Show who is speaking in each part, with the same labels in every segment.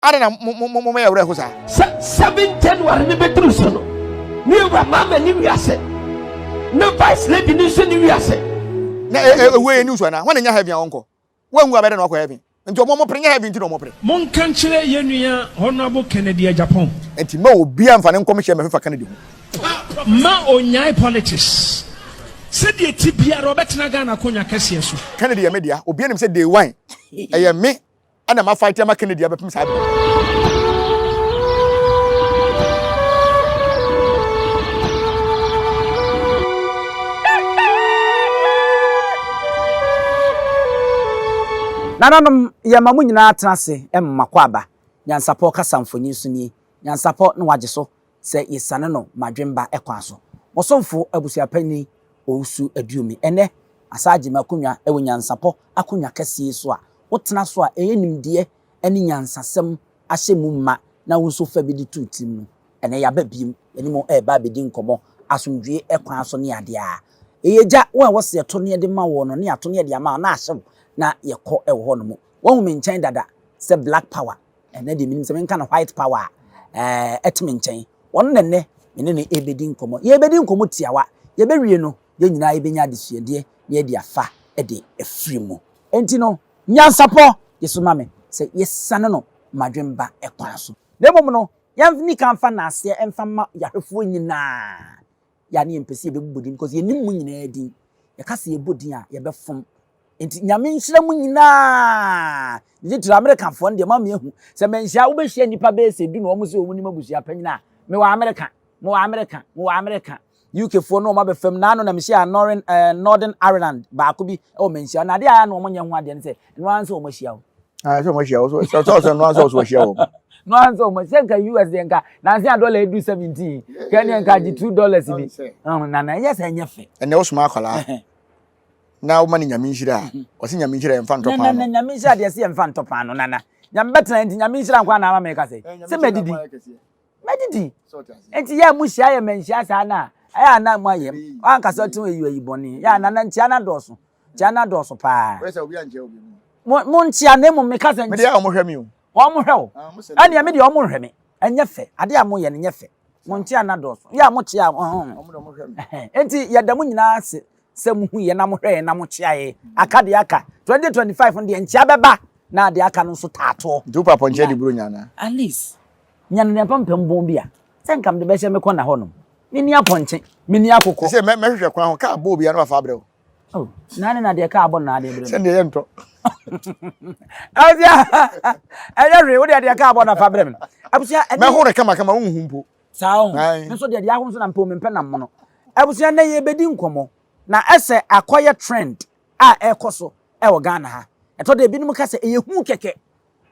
Speaker 1: Adɛn na moyɛ awerɛho saa? Sɛ 7 January
Speaker 2: no bɛduru so no, ne wura Mama ne wi ase, na Vice Lady no nso ne wi ase. Na
Speaker 1: ɛwuo yɛ news anaa? Hwan na ɛnya heaven a ɔnkɔ? Wanwu a bɛyɛ dɛn na wakɔ heaven? Nti ɔmo pere, nyɛ heaven nti na ɔmo pere. Monka nkyerɛ yɛn
Speaker 3: nua Honourable Kennedy Agyapong. Nti mma obiara
Speaker 1: mfa ne nkɔmhyɛ mmɛfefa Kennedy ho. Mma
Speaker 3: onnyae politics. Sɛdeɛ ɛte biara ɔbɛtena Ghana akonnwa kɛseɛ so. Kennedy yɛ me dea. Obiara nim
Speaker 1: sɛ Day One yɛ me ɛna ma fight ama Kennedy abɛpem saa bere.
Speaker 4: Nananom, yɛma mo nyinaa tena ase mma kɔ aba. Nyansapɔ kasa mfonyin so nie. Nyansapɔ na wagye so. sɛ yesiane no Madwemba kwan so. Mo somfo Abusuapanyin Owusu Aduomi. Ɛnnɛ, asaagye me akonnwa wɔ nyansapɔ akonnwa kɛse yi so a wotena so a ɛyɛ nimdeɛ ne nyansasɛm ahyɛ mu ma na wo nso fa bi de to wo tirim no. Ɛnnɛ yɛaba bio, yɛne mo reba abedi nkɔmmɔ asomdwoe kwan so ne ade a ɛyɛ agya wɔn a ɛwɔ sɛ yɛto nneɛ de ma wɔn no ne ato nneɛ de ama wɔn na ahyew na yɛkɔ wɔ hɔnom. Wɔahu me nkyɛn dada sɛ Black Power Ɛnnɛ deɛ menim sɛ menka no white power a, ɛɛ, ɛte me nkyɛn. Ɔno na ɛnnɛ me ne no rebɛdi nkɔmmɔ. Yɛrebɛdi nkɔmmɔ tiawa. Yɛbɛwie no, yɛn nyinaa yɛbɛnya adesuadeɛ na yɛadi afa de afiri mu. Enti no, nyansapɔ gye so ma me sɛ yɛsiane no m'adwene ba kwan so. Na mmom no, yɛnni kan mfa nnaaseɛ mfa mma Yahwefoɔ nyinaa. yɛ a ne yɛmpɛ sɛ yɛbɛbobɔ din because yɛnim mo nyinaa din. Yɛka sɛ yɛbɔ din a, yɛbɛfom. Nti Nyame nhyira mo nyinaa. Ne titiri Amerikafoɔ no deɛ ma meahu sɛ manhyia wobɛhyia nnipa bɛyɛ sɛ du na wɔn sɛ wɔn nim abusua panyin a mewɔ Amerika, mewɔ Amerika, mewɔ Amerika. UKfoɔ no wɔn abɛfam naano na mehyia Northern, uh, Northern Ireland baako bi wɔ manhyia na adeɛ a na wɔn nyɛ ho adeɛ no sɛ ɛno ara nso wɔn ahyia wo. Ah, sɛ wɔn
Speaker 1: ahyia wo so sɛ sɛ sɛ ɛno ara nso wɔn ahyia wɔn. no ansa wɔn
Speaker 4: sɛ nka us deɛ nka nansi a dɔla edu seventeen kɛnɛ nka gye two dollars bi na na ɛyɛ sɛ ɛnyɛ fɛ. ɛnna ɔsoma akwadaa
Speaker 1: na ɔma ne nyame nhyira a ɔsi nyame nhyira yɛn nfa ntɔ paano. na nyame nhyira deɛ si yɛn
Speaker 4: nfa ntɔ paano nana nyame bɛtena nti nyame nhyira nkwa na ama mɛ kasa sɛ mɛ didi mɛ didi nti yɛ mu hyia yɛ mɛ nhyia saa na ɛyɛ ana mu ayɛ wankasa ɔtí wɔn eyi wɔyi bɔnne yɛ ana na ntia na dɔɔso Gya no adɔɔso paa.
Speaker 1: Mo, monkyea na
Speaker 4: mmom meka sɛ. Medeɛ a wɔhwɛ me o.
Speaker 1: Wɔhwɛ wo.
Speaker 4: Ɛneɛ me deɛ wɔnhwɛ me. Ɛnyɛ fɛ. Adeɛ a moyɛ no nyɛ fɛ. Monkyea no adɔɔso. Yɛ a mokyea wɔn.
Speaker 1: Enti yɛda mo nyinaa
Speaker 4: ase sɛ mohu yɛn na mohwɛ yɛn na mokyea yɛn. Aka deɛ aka. 2025 no deɛ nkyea bɛba na deɛ aka no nso taatoɔ. Nti wopɛ apɔnkye adiburo nya
Speaker 1: anaa? Alice,
Speaker 4: nya no deɛ pampam bɔn bi a sɛ nka mede bɛhyɛ me kɔna hɔnom. Menni apɔnkye. Menni akokɔ. Sɛ mɛhwehwɛ kwan ho
Speaker 1: kaa bɔɔ biara na wafa abrɛ wo. Oh, nane
Speaker 4: na deɛ kaa bɔ na adeɛ bere. Sɛdeɛ yɛ ntɔ.
Speaker 1: Abusua,
Speaker 4: ɛyɛ hwee, wo deɛ deɛ kaa bɔ na fa bere me. Abusua, ɛne. Mɛho reka maka ma
Speaker 1: wonhu mpo. Saa ho. Nso
Speaker 4: deɛ deɛ aho nso na mpɛ omempɛ nam mono. Abusua, na yɛbɛdi nkɔmmɔ. Na ɛsɛ akɔyɛ trend a ɛkɔ so ɛwɔ Ghana ha. Ɛtɔ da ebinom ka sɛ ɛyɛ hu kɛkɛ.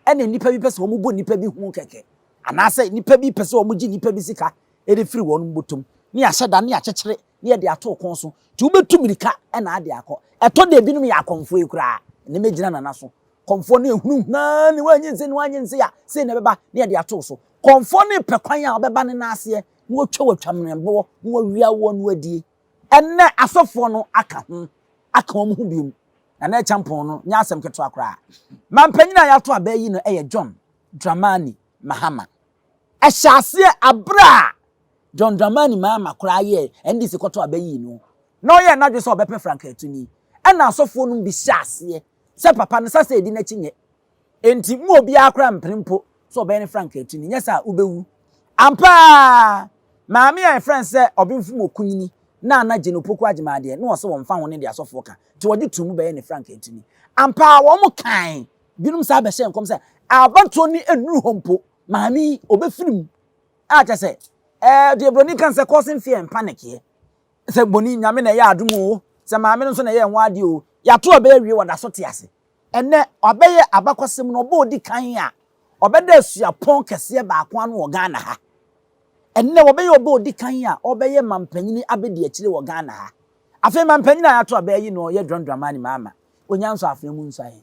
Speaker 4: Ɛna nnipa bi pɛ sɛ wɔn bɔ nnipa bi hu kɛkɛ. Anaasɛ nnipa bi pɛ sɛ wɔn gye nnipa bi sika ɛde firi wɔn bɔtɔm. Ne yɛahyɛ da ne yɛakyekyere na yɛde ato wo kɔn so, nti wobɛtu mmirika na ade akɔ. Ɛtɔ da ebinom yɛ akɔmfoe koraa, na ɛmɛgyina nana so. Kɔmfoɔ no ahunu hann, na wannye nse, na wannye nse a, sei na ɛbɛba, na yɛde ato wo so. Kɔmfoɔ no repɛ kwan a ɔbɛba ne nan aseɛ, na watwa wo atwammrɛnboɔ, na wawia woɔ, na wadie. Ɛnnɛ, asɔfoɔ no aka ho, aka wɔn ho bio. Nana Acheampong no nyɛ asɛm ketewa koraa. Mampanyin a yɛato abaa yi no yɛ John Dramani Mahama. Ɛhyɛɛ aseɛ berɛ a John Dramani Mahama koraa yɛɛ NDC kɔtɔ a bɛyii no na ɔyɛɛ n'adwene sɛ ɔbɛpɛ Frank Atuni ɛna asɔfoɔ nom bi hyɛɛ aseɛ sɛ papa no sɛ sɛ ɛdi n'akyi nyɛ enti mo obiara koraa mpene mpo sɛ ɔbɛyɛ ne Frank Atuni nyɛ saa a wobɛwu. Ampa ara Maame a yɛfrɛ no sɛ Ɔbenfo Mokunyini Nana Jane Opoku Agyemang deɛ na ɔse wɔmfa ho ne deɛ asɔfoɔ ka nti wɔgye too mu bɛyɛɛ ne Frank Atuni. Ampa ara wɔn kae Binom san bɛhyɛɛ nkɔm sɛ, Abatoɔ no nnuru hɔ mpo, maame yi, ɔbɛfiri mu. A kyerɛ sɛ, ɛɛ, deɛ Buroni ka no sɛ, causing fear and panic here. Sɛ boni, Nyame na ɛyɛ adom oo, sɛ maame no nso na ɛyɛ ho adeɛ oo, yɛato aba awie, wɔda so te ase. Ɛnnɛ, wabɛyɛ abakɔsɛm no ɔba a ɔdi kan a ɔbɛda suapɔn kɛseɛ baako ano wɔ Ghana ha. Ɛnnɛ, wabɛyɛ ɔba a ɔdi kan a ɔbɛyɛ mampanyini abɛdi akyire wɔ Ghana ha. Afei, mampanyini a yɛato aba ayi no yɛ John Dramani Mahama, Onyanso Afena mu nsuaeɛ.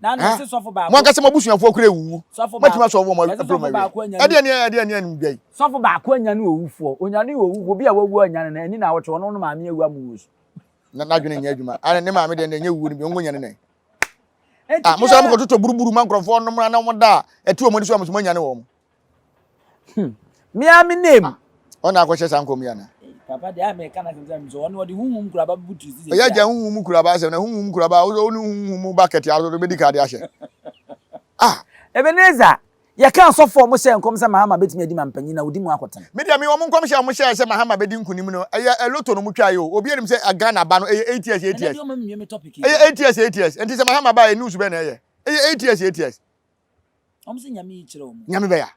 Speaker 4: mo ankasa mo abusuafoɔ kura
Speaker 1: ewuwu mɛtumi asɔ wɔn aburo ma wie ɛdeɛ ni ɛdeɛ ni ɛnum dwa yi. sɔfo baako anya ne
Speaker 4: owufoɔ onyane owufoɔ obi a wawu anya ne na ɛni na awɔtwe wɔn no maame awu amu wɔ su. na n'adwene nyɛ
Speaker 1: adwuma ana ne maame deɛ nyɛ wuo no bi ɔngo nyane nɛ. a mo sɛ mo kɔtotɔ buruburu ma nkurɔfoɔ nom na wɔn da a ɛte wɔn ani so a mo so mo anya ne wɔn.
Speaker 4: Hmm. Me ara me name. Ah, ɔna akɔhyɛ saa
Speaker 1: nkɔm yi ana. Eh, papa deɛ a meka no
Speaker 4: asɛm sɛ mesɛ ɔno ɔde honhom kuraba bɛbu tiri sisɛ ɔyɛ gya honhom mu kuraba
Speaker 1: asɛm na honhom kuraba a wosɛ wone honhom mu bakɛte a wosɛ wobɛdi ka de ahyɛ ah Ebenezer
Speaker 4: yɛka asɔfoɔ mo hyɛ nkɔm sɛ mahama bɛtumi adi ma mpanyin na wodi mu akɔtena me deɛ me wɔn nkɔm hyɛ a
Speaker 1: wɔn hyɛ sɛ mahama bɛdi nkunim no ɛyɛ ɛloto no mo twa yi o obi anim sɛ Ghana ba no ɛyɛ eight years eight years ɛyɛ eight years eight years ɛnti sɛ mahama ba yɛ news bɛn na ɛyɛ ɛyɛ eight years eight years Wɔn sɛ
Speaker 4: nyame yi kyerɛ wɔn. Nyame bɛya.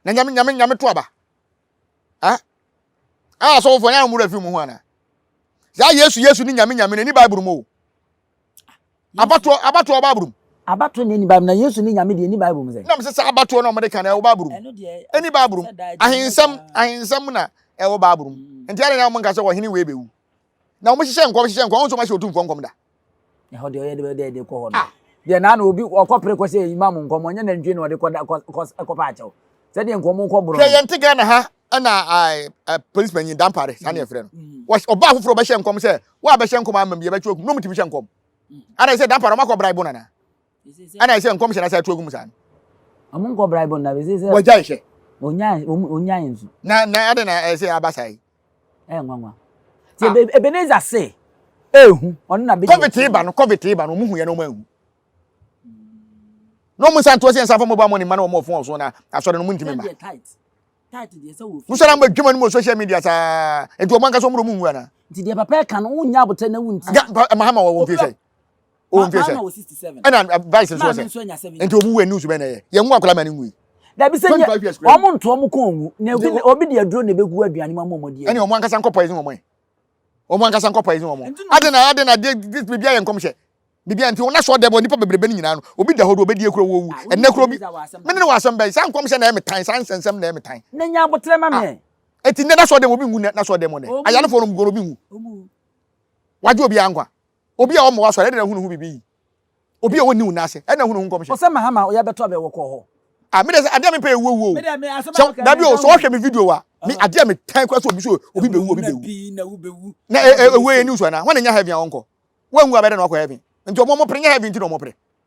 Speaker 1: Na nyame nyame nyame to aba. Ah. Ah so fo nya mura fi mu ho ana. Ya Yesu Yesu ni nyame nyame ni Bible mu. Abato abato Bible mu. Abato ni ni Bible
Speaker 4: na Yesu ni nyame de ni Bible mu sɛ. Na me sɛ abato na ɔmde
Speaker 1: kan na Bible mu. Ɛno deɛ. Ɛni Bible mu. Ahensɛm ahensɛm na ɛwɔ Bible mu. Nti ara na ɔmo nka sɛ ɔhene wei bɛwu. Na wɔn hyehyɛ nkɔm hyehyɛ nkɔm wɔn nso wɔn ahyɛ otumfoɔ nkɔm da. Ɛhɔ deɛ ɔyɛ de
Speaker 4: bɛ dɛ de kɔ hɔ no. Ah. Deɛ naa na obi ɔkɔ pere kɔ sɛ imam nkɔm ɔnyɛ nantwie na ɔde kɔ da kɔ kɔ kɔ pa akyɛw. Sɛ deɛ nkɔm kɔ borɔ. Hwɛ yɛn te Ghana ha
Speaker 1: ɛna ɛɛ polisi panyin dampare saa na yɛfrɛ no. Mm. Wɔ ɔbaa foforɔ bɛhyɛ nkɔm sɛ wɔabɛhyɛ nkɔm ama mi yɛbɛtwe okum na wɔn ti bi hyɛ nkɔm. Mm. Ana sɛ dampare wɔn akɔ bra ibo nana. ɛna ɛsɛ nkɔmhyɛ na sɛ ɛto agu mu saa no ɔmo nkɔ
Speaker 4: braibɔ na bɛsɛ sɛ wɔgya nhyɛ
Speaker 1: ɔnya yɛ
Speaker 4: nso na na adɛ na
Speaker 1: ɛsɛ aba saa yi ɛyɛ nwanwa
Speaker 4: ti ah. ebeneza se ehu ɔno na bɛ covid iba no covid iba no
Speaker 1: ɔmo hu yɛ na ɔmo ehu na ɔmo nsa ntoɔ sɛ nsa fɔ mo ba mo ne mma na ɔmo ɔfon ɔso na asɔre no mo ntumi ma
Speaker 4: musa na mo adwuma no mo
Speaker 1: social media saa nti ɔmo ankasa ɔmo na ɔmo nwu ana. nti deɛ papa ɛka no
Speaker 4: wonya abotire na wunti. mahama wɔ wɔn fi sɛ.
Speaker 1: o ntwe sɛ ɛna
Speaker 4: vice nso sɛ
Speaker 1: nti obu wɛ news bɛ na ɛyɛ yɛn nwa akɔla ma ne nwi. dabi sɛ nye
Speaker 4: wɔn nto wɔn kɔn nwu na obi obi de aduro na ebegu aduane mu ama wɔn adi. ɛni wɔn ankasa nkɔ poison
Speaker 1: wɔn yi wɔn ankasa nkɔ poison wɔn adi na adi na adi bibi ayɛ nkɔmhyɛ bibi nti wɔn asɔ dɛbɔ nipa bebrebe ne nyinaa no obi da hɔ do obedi ekuro wɔwu ɛnɛ kuro bi mene ne wɔ asɛm bɛyi saa nkɔmhyɛ na ɛmi tan saa nsɛnsɛm na ɛmi tan. ne nya abotire ma mɛ.
Speaker 4: eti ne nasɔ dɛm
Speaker 1: obi ngu ne nasɔ dɛm ne ayalefo no mu goro obi ngu wagye obi ankwa. Obi a ɔmmoa asɔre, ɛna na hunu ho biribi yi. Obi a ɔnni wo nan ase, ɛna hunu ho nkɔmhyɛ. Ɔsɛ Mahama ɔya bɛtɔ
Speaker 4: abɛ wɔ kɔ hɔ. Ah me de sɛ adeɛ me
Speaker 1: pɛ yɛ wuo wuo o sɛ dabi o sɛ ɔhwɛ me video a me adeɛ me tan kura sɛ obi so obi bɛ wu obi bɛ wu na ewuo yɛ news ana wɔn nyɛ heaven a wɔn kɔ wɔn wu abɛdɛ na wakɔ heaven nti wɔn wɔn pere nyɛ heaven nti na wɔn pere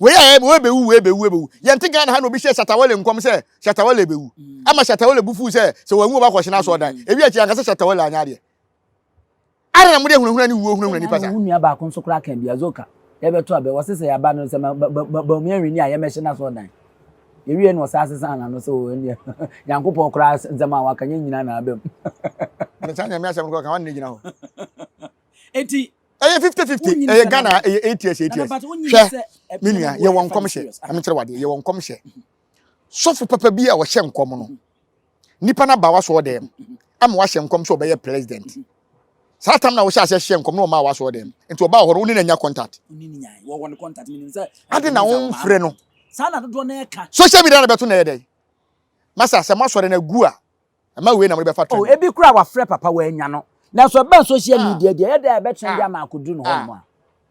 Speaker 4: Wei a ɛbɛ wɔbɛwu
Speaker 1: wɔbɛwu ɛbɛwu. Yɛnte Ghana ha na obi hyɛ Shatawale nkɔm sɛ Shatawale bɛwu. Ama Shatawale bu fuu sɛ sɛ wanwu ɔba kɔhyena asɔ ɔdan. Ewi akyi anka sɛ Shatawale anyɛ adeɛ. Adɛn na mode ahunahuna ne wuo hunahuna nnipa saa? Wo nua baako nso koraa kaa
Speaker 4: bi, Azoka, yɛbɛto abɛ, ɔse sɛ yɛaba no sɛ ma ba ba ba Bawumia Nhwini a yɛmmɛhye n'asɔ ɔdan. Yɛwieɛ na ɔsaa sesaa n'ano sɛ oo ɛnneɛ Nyankopɔn koraa nsɛm a waka nyɛ nyinaa na aba mu. Mede saa
Speaker 1: Nyame asɛm no kɔka, ɔnne gyina hɔ. Enti
Speaker 4: ɛyɛ fifty fifty
Speaker 1: ɛyɛ ghana ɛyɛ eight years eight years hwɛ me nua yɛwɔ nkɔmhyɛ ɛmekyerɛ wadeɛ yɛwɔ nkɔmhyɛ sɔfo papa bi a ɔhyɛ nkɔm no nipa no aba wasɔ dɛm ama wahyɛ nkɔm sɛ ɔbɛyɛ president saa tam na wɔhyɛ aseɛ hyɛ nkɔm na ɔma wasɔ dɛm nti ɔbaa hɔ no wone no anya contact
Speaker 4: ade na womfrɛ
Speaker 1: no
Speaker 4: social media na bɛto na ɛyɛ dɛn
Speaker 1: masa sɛ moasɔre no agu a Ɛma wei na mode bɛfa trenee. Oh, ebi koraa wafrɛ papa
Speaker 4: wannya no. Nanso ɛbɛn social Ah, media deɛ, ɛyɛ dɛn a ɛbɛtwɛn ah, de ama akɔduru ne ah, hɔnom a?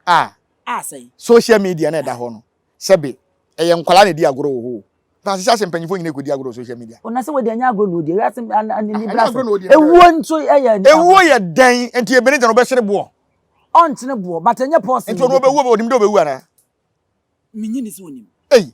Speaker 4: ah. Ah, sɛn? Social media no a ɛda Ah.
Speaker 1: hɔ no, sɛbe ɛyɛ nkwadaa na ɛdi agorɔ wɔ hɔ o, na asehyɛ ase mpanyimfoɔ nyinaa kɔdi agorɔ wɔ social media. Oh, na sɛ wɔde ɛnyɛ agorɔ na ɔdi,
Speaker 4: wiase an- an- Ah, ɛnyɛ agorɔ anibrasɛm. na ɔdi, ɛnyɛ Ewuo agorɔ. nso yɛ yɛ nneɛma. Ewuo yɛ dɛn?
Speaker 1: Enti ebene gya no ɔbɛsene boɔ. Ɔnkyene
Speaker 4: boɔ, but ɛnyɛ pɔɔsen Enti na ɔno ɔbɛkum. ɔbɛwu o, ɔnim dɛ ɔbɛwu
Speaker 1: anaa? Mennye nni
Speaker 4: sɛ ɔnim. Ei,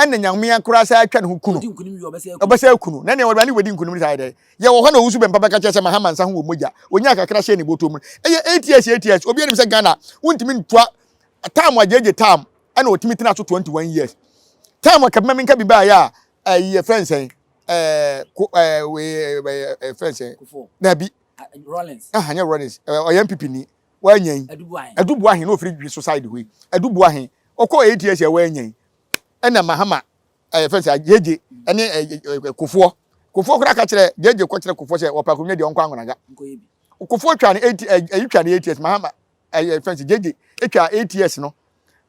Speaker 1: ɛna nyame ankora sɛ atwa ne ho kuno ɔbɛsɛ akuno na nea wɔdwa ne wɔdi nkunim saa dɛ yɛ wɔ hɔ na ɔwusu bɛmpa bɛka kyerɛ sɛ mahama nsa ho wɔ mogya ɔnya kakra hyɛ ne bɔtɔ mu ɛyɛ ats ats obi anim sɛ Ghana wontumi ntua tam agyegye tam ɛna ɔtumi tena so 21 years tam akabima mi nka bi baayɛ a ɛyɛ fɛn sɛn ɛɛ ko ɛɛ wei ɛɛ fɛn sɛn na bi Rollins ɛhanyɛ
Speaker 4: Rollins ɛɛ
Speaker 1: ɔyɛ mpipi ni wannya yi ɛdu boa he na ofiri dwi so side hɔ yi ɛdu boa he ɔkɔ eight years a wannya yi ɛna mahama ɛyɛ fɛn sɛ gyegye ɛne ɛɛ kofoɔ kofoɔ koraa ka kyerɛ gyegye kɔ kyerɛ kofoɔ sɛ ɔpɛ akonnwa deɛ ɔnkɔ angonaga kofoɔ twa no eight ɛyi twa no eight years mahama ɛyɛ fɛn sɛ gyegye etwa eight years no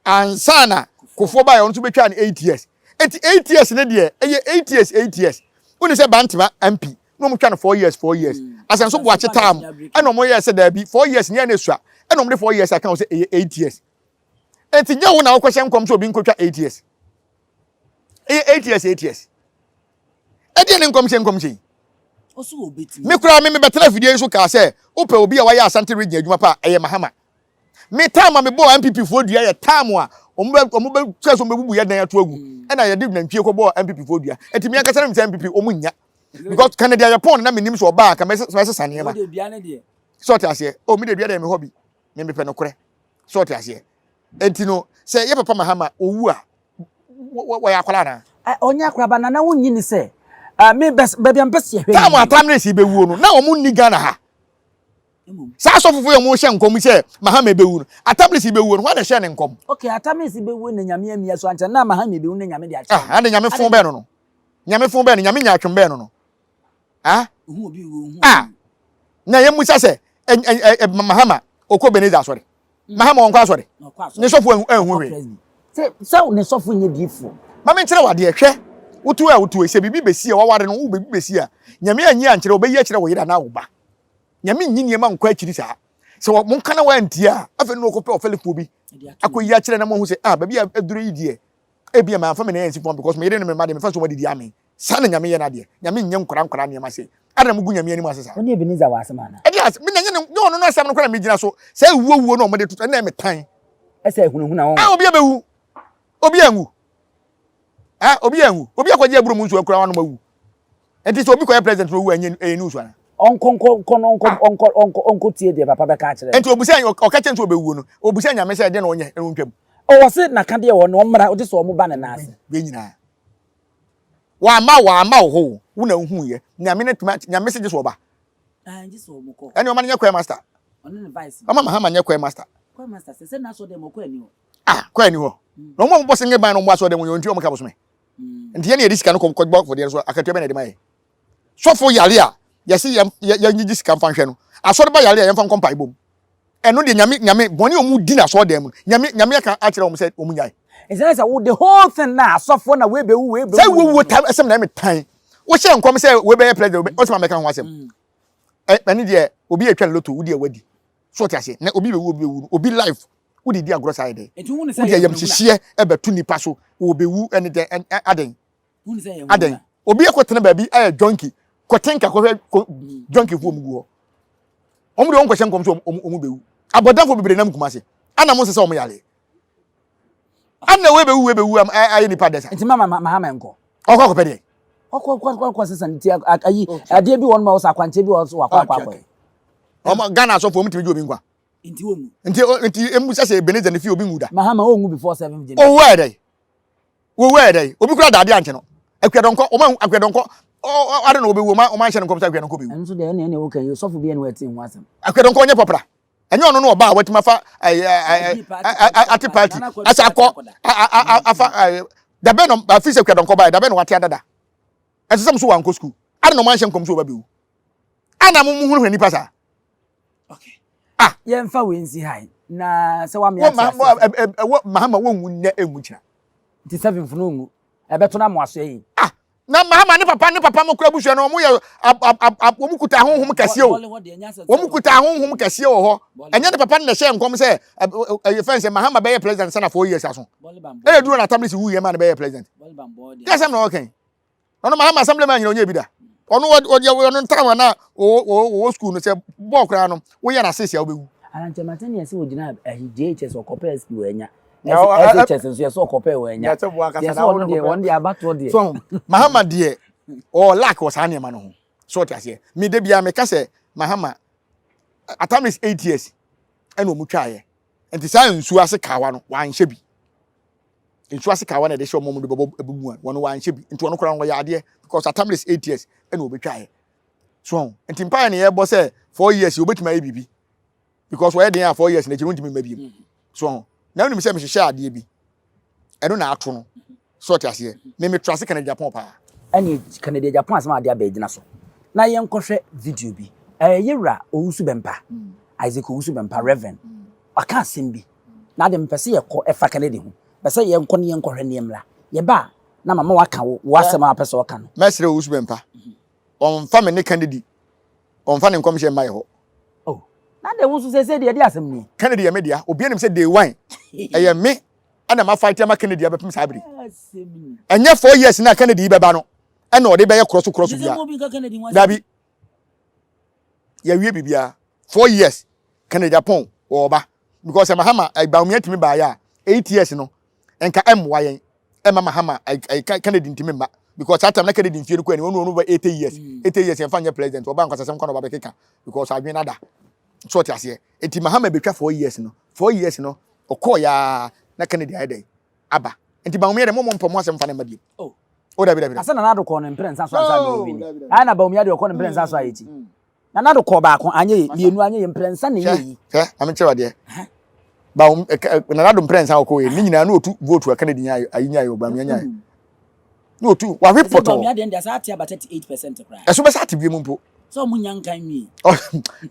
Speaker 1: ansa na kofoɔ baayɛ ɔno nso betwa no eight years eti eight years ne deɛ ɛyɛ eight years eight years wone sɛ bantama mp na wɔn twa no four years four years mm. asɛnso bo akye taa mu ɛna wɔn yɛ sɛ daabi four years nyɛ na esua ɛna wɔn de four years aka wɔn sɛ ɛyɛ eight years eti nyɛ wo na wɔkɔhyɛ nkɔm sɛ obi nkotwa eight years ɛyɛ eight years eight years ɛdeɛ ne nkɔmhyɛ nkɔmhyɛ yi
Speaker 4: me koraa me mebɛtena afidie
Speaker 1: nso kaa sɛ wopɛ obi a wayɛ asante region adwuma pa ɛyɛ mahama me tam a mebɔɔ mpp foɔ dua yɛ tam a wɔn bɛ wɔn bɛ sɛ so wɔn bɛ bubu yɛ dan ato agu mm. ɛna yɛde nantwie kɔ bɔɔ mpp foɔ dua ɛtumi ankasa ne mi sɛ mpp wɔn nya because kan deɛ yɛ pɔn na mi nim sɛ ɔbaa kan mɛ sɛ sesa nneɛma sɛ ɔte aseɛ o oh, mi de dua deɛ mi hɔ bi mi mi pɛ no korɛ sɛ ɔte aseɛ nti no sɛ yɛ papa mahama owu a wɔyɛ akwadaa na. ɔnyɛ akwadaa ba nana
Speaker 4: wonyi ni sɛ mi baabi a mpɛ si ɛhwɛ. táàmù atam ne si bɛwuo
Speaker 1: no na wɔn nni ghana ha saa asɔfofo yɛ wɔn hyɛ nkɔm sɛ mahama bɛwu no atam ne si bɛwuo no wɔn na hyɛ ne nkɔm. ok atam ne si bɛwuo
Speaker 4: na nyame amia so ankyɛn na mahama bɛwu na nyame de akyɛ. ah ande nyame fun bɛn no no.
Speaker 1: Nyame fon bɛɛ no Nyame nyaatwom bɛɛ no no ah
Speaker 4: ah na
Speaker 1: yɛ musa sɛ Mahama ɔkɔ Beneza asɔre Mahama wɔnkɔ asɔre ne sɔfo anhu hwee sɛ ne
Speaker 4: sɔfo nyɛ diifoɔ mame nkyerɛ wadeɛ
Speaker 1: hwɛ wotu a wotu sɛ biribi bɛsi a waware no wo biribi bɛsi a Nyame anyi ankyerɛ wɔbɛyi akyerɛ wɔ yere anaa wo ba Nyame nyi nneɛma nkɔ akyiri saa sɛ wɔn kana wɔn antia a afei no wɔkɔpɛ ɔfɛlefoɔ bi akɔyi akyerɛ na moahu sɛ ah baabi a aduro yi deɛ Ebia mamfa me nan ansi fam because me yere ne me mma deɛ mefa so wɔadidi amee. Saa na Nyame yɛ n'adeɛ. Nyame nnyɛ nkwadaa nkwadaa nneɛma sei. Adɛn na mogu Nyame anim ase saa? Wo ne Ebenezer wɔ asɛm anaa?
Speaker 4: Ɛdeɛn asɛm? Me na ɛnyɛ ne, nyɛ ɔno
Speaker 1: no asɛm no koraa na megyina so. Saa awuo wuo no a wɔde toto, ɛnna ɛyɛ me tan. Ɛsɛ ahunahuna
Speaker 4: wɔn. Ɛ, obiara bɛwu.
Speaker 1: Obiara nwu. Ɛ, obiara nwu. Obi akɔgye aburo mu nsuo akura w'anom awu. Enti sɛ obi kɔyɛ president na owu a ɛnyɛ ɛyɛ news ana? Ɔnkɔ nkɔ nkɔ no ɔnkɔ ɔnkɔ ɔnkɔ
Speaker 4: ɔnkɔ tie deɛ papa bɛka akyerɛ no. Enti obisa ɔka kyerɛ no sɛ
Speaker 1: ɔbɛwuo no obisa Nyame sɛ ɛdeɛ na ɔnyɛ na ɔntwam. O ɔse naka
Speaker 4: deɛ ɔwɔ no ɔmmra ɔgye sɛ ɔmo ba ne nan ase. Wei nyinaa
Speaker 1: wamma wo amma wo hoo wo na wohuuiɛ Nyame na tumi akyɛ Nyame se gye sɛ ɔba. Aah
Speaker 4: gye sɛ ɔmo kɔ. Ɛne ɔma no nyɛ choir master.
Speaker 1: Ɔne ne
Speaker 4: vice no. Ɔma Mahama nyɛ choir master.
Speaker 1: Choir master sɛ sɛ na
Speaker 4: asɔre dɛm hɔ choir ni hɔ. Ah
Speaker 1: choir ni hɔ. Na ɔmo a ɔmo bɔ senge ban na ɔmo wɔ asɔre dɛm hɔ yɛ ɔnti ɔmo ka bosome. nti yɛn na yɛde sika no kɔ bɔ afɔdeɛ no so akatua bɛn na yɛde ma yɛ sɔfo yare a yɛsi yɛn yɛn gyigye sika nfa nhwɛ no asɔre ba yare a yɛn fa nkɔ mpaebɔ mu ɛno deɛ nyame nyame bɔne a wɔn di na asɔre dan mu nyame nyame aka akyerɛ wɔn sɛ wɔn nyae. ɛsɛ sɛ wo the
Speaker 4: whole thing na asɔfo na webewu webewu. sɛ wuwu ta
Speaker 1: ɛsɛm na ɛmɛ tan wohyɛ nkɔm sɛ wobɛyɛ president wobɛ ɔsɛ ma mɛka ho asɛm mm. ɛne deɛ obi atwa ne loto wodi ɛwadi so ɔte ase na obi bɛwu obi bɛwu obi life Wo de di agorɔ saa yɛ dɛn? Wo de
Speaker 4: ayamhyehyeɛ
Speaker 1: bɛto nipa so, wɔbɛwu ne dɛn adɛn
Speaker 4: adɛn? Obi ɛkɔ tena
Speaker 1: baabi ayɛ junkie, kɔte nka kɔhwɛ junkie foɔ mu gu hɔ. Wɔn de wɔn kɔhyɛ nkɔm so wɔn bɛwu. Abɔdafo bebree nam kuma ase, ana mo nsesa wɔn yare? Ana wei bɛwu wei bɛwu ayɛ nipa dɛsa? Nti mama mahama nkɔ.
Speaker 4: Ɔkɔ akɔpɛ deɛ?
Speaker 1: Ɔkɔ akɔ akɔ akɔ
Speaker 4: sesa ne ti ayi adeɛ bi wɔn ma wɔsɔ akwankyɛ bi wɔn so wakɔ akɔ akɔ. Ɔmo
Speaker 1: Ghana asɔfo wɔn tumi gye obi nkwa. Nti
Speaker 4: wɔn mu. Nti o nti emu sɛ
Speaker 1: sɛ Ebenezer ne fi obi nwu da. Mahama wɔn nwu before
Speaker 4: seventh January.
Speaker 1: Owó ɛdɛ yi owó ɛdɛ yi obi kura daade ankyɛ no akuadɔnkɔ wɔn ahu akuadɔnkɔ ɔ ade na wɔbɛwu wɔn wɔn anhyɛ no nkɔm sɛ akuadɔnkɔ bɛwu. Ɛno so deɛ ɛna ɛna ɛwɔ kan yi
Speaker 4: sɔfo bi ɛna wɔte ho asɛm. Akuadɔnkɔ ɔnyɛ pɔpra
Speaker 1: ɛnyɛ ɔno no ɔba a wɔatumi afa ate party asa akɔ afa dabɛn na afi sɛ akuadɔnkɔ ba yɛ dabɛn na wɔate adada ɛsɛ sɛ mo so wɔankɔ sukuu ade na wɔn anhyɛ nkɔm so wɔbɛbɛwu ana mo mo hu hwɛ nipa saa
Speaker 4: okay ah yɛmfa wei nsi ha na sɛ wame ate ase ɛwɔ mahama
Speaker 1: wɔnwu nnɛ ɛnwu kyina nti seven funu
Speaker 4: nwu ɛbɛto no amoa so ɛyi ah na mahama ne
Speaker 1: papa ne papa mo kura busua no wɔn yɛ wɔn kuta ahohom kɛseɛ o wɔn kuta ahohom kɛseɛ wɔ hɔ ɛnyɛ ne papa ne na ɛhyɛ nkɔm sɛ ɛyɛ fɛn sɛ mahama bɛyɛ president sɛ na four years aso ɛyɛ duro na atamisi wu yɛ ma ne bɛyɛ president yɛ sɛm na ɔkɛn. ɔno mahama assembly man nyina ɔnyɛ bi da ɔno ɔdeɛ ɔno ntaa wɔn a wɔwɔ sukuu no sɛ bɔɔl koraa no woyɛ no asese a wobɛwu arankyɛ mate ne ɛsɛ
Speaker 4: wɔgyina ahi JHS ɔkɔpɛ SP wɔanya SHS nso yɛsɛ ɔkɔpɛ wɔanya yɛsɛ ɔno deɛ wɔn deɛ abatoɔ deɛ so mahama deɛ
Speaker 1: ɔɔ lack wɔ saa nneɛma no ho so ɔte aseɛ me da biara meka sɛ mahama at time is eight years ɛna ɔmu twaeɛ nti saa nsuo ase kawa no wanhyɛ bi Nsu ase kawa na ɛde hyɛ wɔn mu de bɛbɔ ɛbu mu a wɔn wɔanhyɛ bi nti wɔn koraa no wɔyɛ adeɛ because atam is eight years ɛna wɔbɛtwaeɛ so ho nti mpaeɛ ne yɛbɔ sɛ four years yi wɔbɛtumi ayɛ biribi because wɔyɛ den a four years n'akyi no ntumi mma biem so ho na wonim sɛ mehyehyɛ adeɛ bi ɛno na ato no so ɔte aseɛ me metra ase Canada Japan paa ɛne Canada
Speaker 4: Japan asɛm adeɛ abɛgyina so na yɛnkɔhwɛ video bi ɛyɛ wura owusu bɛmpa Isaac owusu bɛmpa Reverend ɔka asɛm bi Na de mepɛ sɛ yɛkɔ ɛfa Kennedy ho. Mepɛ sɛ yɛnkɔ ne yɛnkɔ hwɛ ne yɛmmra. Yɛba a, na mama waka wo, wo asɛm a wopɛ sɛ ɔka no. Mɛsrɛ wo Usman pa,
Speaker 1: ɔmfa me ne Kennedy, ɔmfa ne nkɔmhyɛ mma yɛ hɔ. Oh,
Speaker 4: na de wo nso seesei deɛ, ɛdeɛ asɛm nie? Kennedy yɛ me dea, obiara nim
Speaker 1: sɛ day one, ɛyɛ me ɛna ma fight ama Kennedy abɛpem saa bere yi. Ɛnyɛ four years no a Kennedy yi bɛba no ɛna ɔde bɛyɛ korɔso korɔso biara. Dabi. yɛwie biribiara four years kennedy apɔn wɔ ɔba because eh, mahama eh, baomia ntumi baayɛ a eight years no nka ɛmmoa eh, yɛn ɛma eh, mahama eh, kennedy ntumi mma because that time na kennedy mfie no kɔ ɛni wɔn wɔn over eighty years mm. eighty years yɛnfa nyɛ president ɔba nkwasasɛm kɔ na ɔba bɛkeka because adwene nada so ɔte aseɛ eti mahama ebetwa four years no four years no ɔkɔɔ yaa na kennedy ayɛ dɛ aba nti Bawumia de mo mo mpɛ mo asɛm fa ne mma biem. Oh. O dabi
Speaker 4: dabi. Asa Nana
Speaker 1: Addo kɔɔ no mpere
Speaker 4: nsa so ansa na ɔwini. Ayɛ na Bawumia de ɔkɔ no mpere nsa so ayɛ ti. Mm. Nana Addo kɔɔ baako anyɛ yɛ mmienu anyɛ yɛ mpere nsa na yɛ yi. Hwɛ maame kyerɛ wadeɛ.
Speaker 1: Bawum eh, eh, Nana Addo mpere nsa ɔkɔɔ yɛ ne nyinaa na otu vote aka ne din ayi nyaayɛ Bawumia nyaayɛ. na otu wawe pɔtɔ. Ɛsɛ deɛ ɛsɛ ate aba
Speaker 4: thirty eight percent koraa. Ɛso bɛsɛ ate bie mu mpo.
Speaker 1: Sɛ ɔmo nya nkan nwi.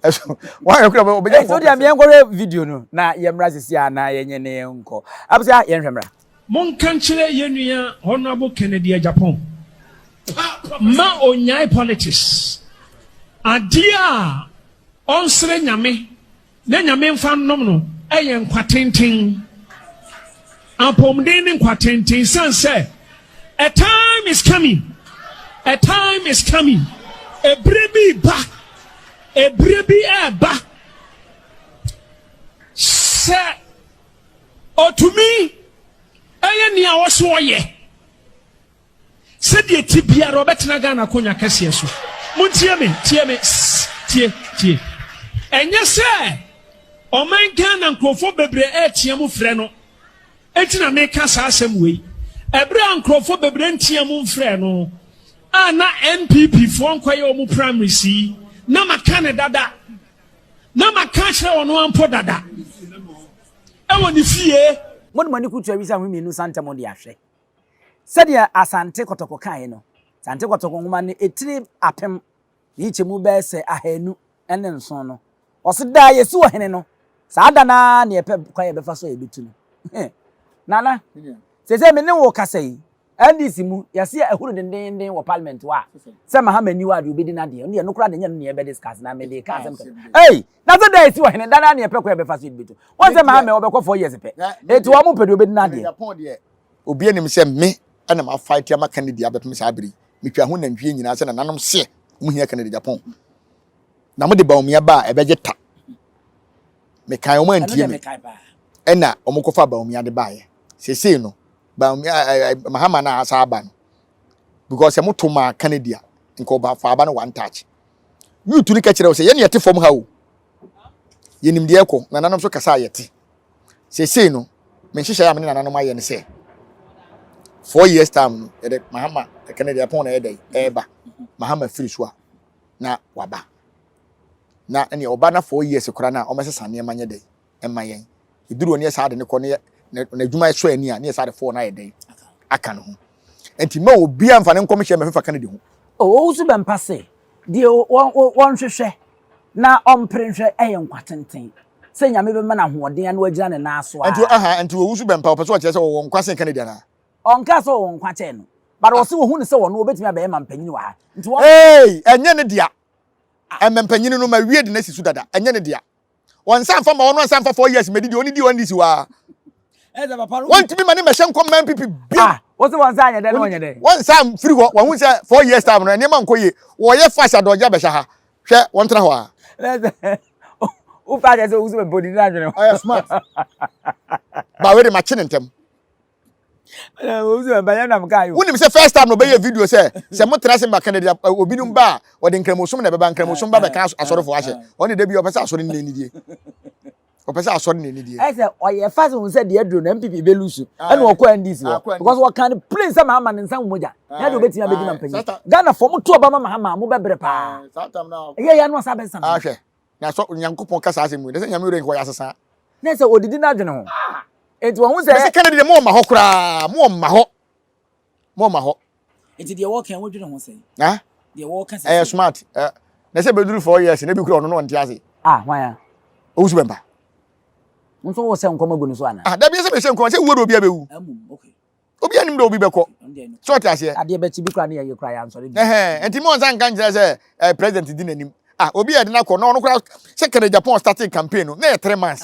Speaker 4: Ɛso
Speaker 1: wɔn ayɛ kura ɔbɛnya fɔ. Ɛso deɛ mi yɛn kɔhwɛ
Speaker 4: video no na yɛn mra sisi a na yɛn nyɛ ne yɛn nkɔ. Abusua yɛn hwɛ mra. Monka nkyerɛ
Speaker 3: yɛn nua Honourable Kennedy Agyapong ma ɔnyae politics. Adeɛ a ɔnsrɛ Nyame Na Nyame mfa nnom no yɛ nkwa tenten, apɔmuden ne nkwa tenten, esiane sɛ a time is coming, a time is coming, ebire bi ba, ebire bi ɛɛba sɛ otumi ɛyɛ nea ɔso ɔyɛ. Sɛdeɛ ɛte biara, ɔbɛtena Ghana akonnwa kɛseɛ so. Montie me, tie me, sss, tie, tie. Ɛnyɛ sɛ ɔman Ghana nkurɔfoɔ bebree retea mu frɛ no nti na meka saa asɛm wei. Ɛberɛ a nkurɔfoɔ bebree ntea mu mfrɛ no a na NPP foɔ nkɔyɛ wɔn primaries yi, na maka no dada, na maka akyerɛ wɔn ampo dada ɛwɔ ne fie. Mode mo ani kutu awi
Speaker 4: sɛ ahome mmienu nsa ntɛm de ahwɛ. Sɛdeɛ Asante Kɔtɔkɔ kaeɛ no, Asante Kɔtɔkɔ nwoma no etire apem ne nkyɛmu bɛyɛ sɛ ahanu ne nson no, ɔse da a yɛsi ɔhene no, saa da no ara na yɛpɛ kwan a yɛbɛfa so a yɛbɛtu no. Nana, seesei me ne wo rekasa yi, NDC mu, yɛase a ahuru dendeenden wɔ parliament hɔ a, sɛ Mahama nni hɔ a deɛ ɔbɛdi no adeɛ, ɛno deɛ ɛno koraa deɛ ɛnyɛ ɛno na yɛbɛdiscuss, na mede ka asɛm kɛkɛ. Ei! Na sɛ da a yɛsi ɔhene, da no ara na yɛpɛ kwan a yɛbɛfa so a yɛbɛtu no. Woahu sɛ Mahama yi, ɔbɛkɔ four years pɛ, enti wɔn pɛ deɛ ɔbɛdi no adeɛ. Obia nim
Speaker 1: sɛ me na ma fight ama Kennedy abɛpem saa bere yi. Me twa ho nantwie nyinaa sɛ nananom seɛ ɔmo hia Kennedy Japan na mo de Bawumia baa ɛbɛgye ta. Me kae ɔmo antie me ɛna ɔmo kɔ fa Bawumia de baeɛ. Sesei no Bawumia eh, eh, Mahama na asa aba no because sɛ mo to maa Kennedy a nka ɔba fa aba no one touch. Youth no kɛkyerɛ wo sɛ yɛne yɛte fam ha o. Yɛnim deɛ ɛkɔ nananom so kasa a yɛte. seesei no me nhyehyɛe a me ne nananom ayɛ ne sɛ four years time no yɛde mahama kɛkɛ no deɛ ɛpɔn na ɛyɛ dɛ ɛreba mahama firi so a na waba na ɛnea ɔba na four years koraa na ɔmɛsesa nneɛma nyɛ dɛ ɛma yɛn eduru ne yɛ saa de ne kɔ ne yɛ n'adwuma ɛsɔ ani a ne yɛ saa de four na yɛ dɛ aka ne ho nti ma obi anfa ne nkɔmhyɛ mɛfefa kennedy ho. ɔwɔ so bɛmpa
Speaker 4: se deɛ wɔnhwehwɛ na ɔmpere nhwɛ ɛyɛ nkwa tenten sɛ Nyame bɛma no ahoɔden ano agyina ne nan so a. Ɛnti ahaa ɛnti wɔwu so bɛn
Speaker 1: paa ɔpɛ sɛ ɔkyerɛ sɛ ɔwɔ nkwa sen Kennedy anaa? Ɔnkaa sɛ ɔwɔ nkwa
Speaker 4: kyɛn no but ɔse wɔhu no sɛ ɔno ɔbɛtumi abɛyɛ mampanyin wɔ ha nti wɔn. Eei ɛnyɛ ne dea
Speaker 1: ɛmampanyin no ma wie de no asi so dada ɛnyɛ ne dea ɔnsan mfa ma ɔno ɔnsan mfa four years mɛdi deɛ ɔne di ɔnne si hɔ aa
Speaker 4: wɔntumi
Speaker 1: ma ne mɛhyɛ nkɔm ma NPP bio Ah
Speaker 4: ɔse wɔnsan anyɛ dɛn na ɔnyɛ dɛn? wɔnsan mfiri hɔ wɔhu
Speaker 1: sɛ four years time no nneɛma nkɔ yie wɔyɛ fast adɔgye abɛhyɛ ha Hwɛ, wɔntena hɔ ara.
Speaker 4: Wofa kyɛ sɛ wowu sɛ bɛbɔ din adwene ho. Ɔyɛ smart.
Speaker 1: Ba wei de makye ne ntɛm.
Speaker 4: Wonim sɛ first time na ɔbɛyɛ
Speaker 1: video sɛ sɛ motena se ma Kennedy obinom ba a ɔde nkramosom na ɛbɛba nkramosom ba bɛka asɔrefoɔ ahyɛ ɔne da bi ɔpɛ sɛ asɔre nne nidie ɔpɛ sɛ asɔre na ɛni deɛ. ɛsɛ ɔyɛ fa sɛ
Speaker 4: wɔn sɛ deɛ aduro na npp bɛ lusu ɛna ɔkɔ ndc hɔ because wɔka ne plain sɛ maama ne nsa ho mogya na ɛde obetumi abɛdi ma mpanyin ghana fɔ mo to ɔba ma mahama mo bɛbrɛ paa ɛyɛ yɛ
Speaker 1: ano asa bɛ san.
Speaker 4: ahwɛ na sɔ
Speaker 1: nyankopɔn kasa asɛm mu ne sɛ nyame wura nkɔ yɛ asesa. ne sɛ odidi
Speaker 4: n'adwene ho eti wɔn ho sɛ. ɛsɛ kennedy de mo ɔma hɔ koraa
Speaker 1: mo ɔma hɔ. mo ma hɔ. Nti deɛ wɔka yi
Speaker 4: wodwene ho sɛn? Ha? Deɛ wɔka
Speaker 1: sɛ. Ɛyɛ
Speaker 4: smart. Ɛ
Speaker 1: na sɛ bɛduru four years na ebi kura ɔno na ɔnte ase. Ah hwan ya?
Speaker 4: Owusu bɛmpa.
Speaker 1: Nso
Speaker 4: wo sɛ nkɔm agu no so ana? Ah dabi sɛ bɛhyɛ nkɔm sɛ wuo
Speaker 1: de obi abɛwu. Amum okay.
Speaker 4: Obi anim de obi
Speaker 1: bɛkɔ. Sɛ ɔte aseɛ. Adeɛ bɛkyi bi kura ne yɛye
Speaker 4: kura yɛ ansɔre bi. Ɛhɛn nti mo nsa nka
Speaker 1: nkyerɛ sɛ ɛɛ president di n'anim ah obi yɛ de n'akɔ na ɔno koraa sɛ kɛnɛ japan starting campaign no na yɛ three months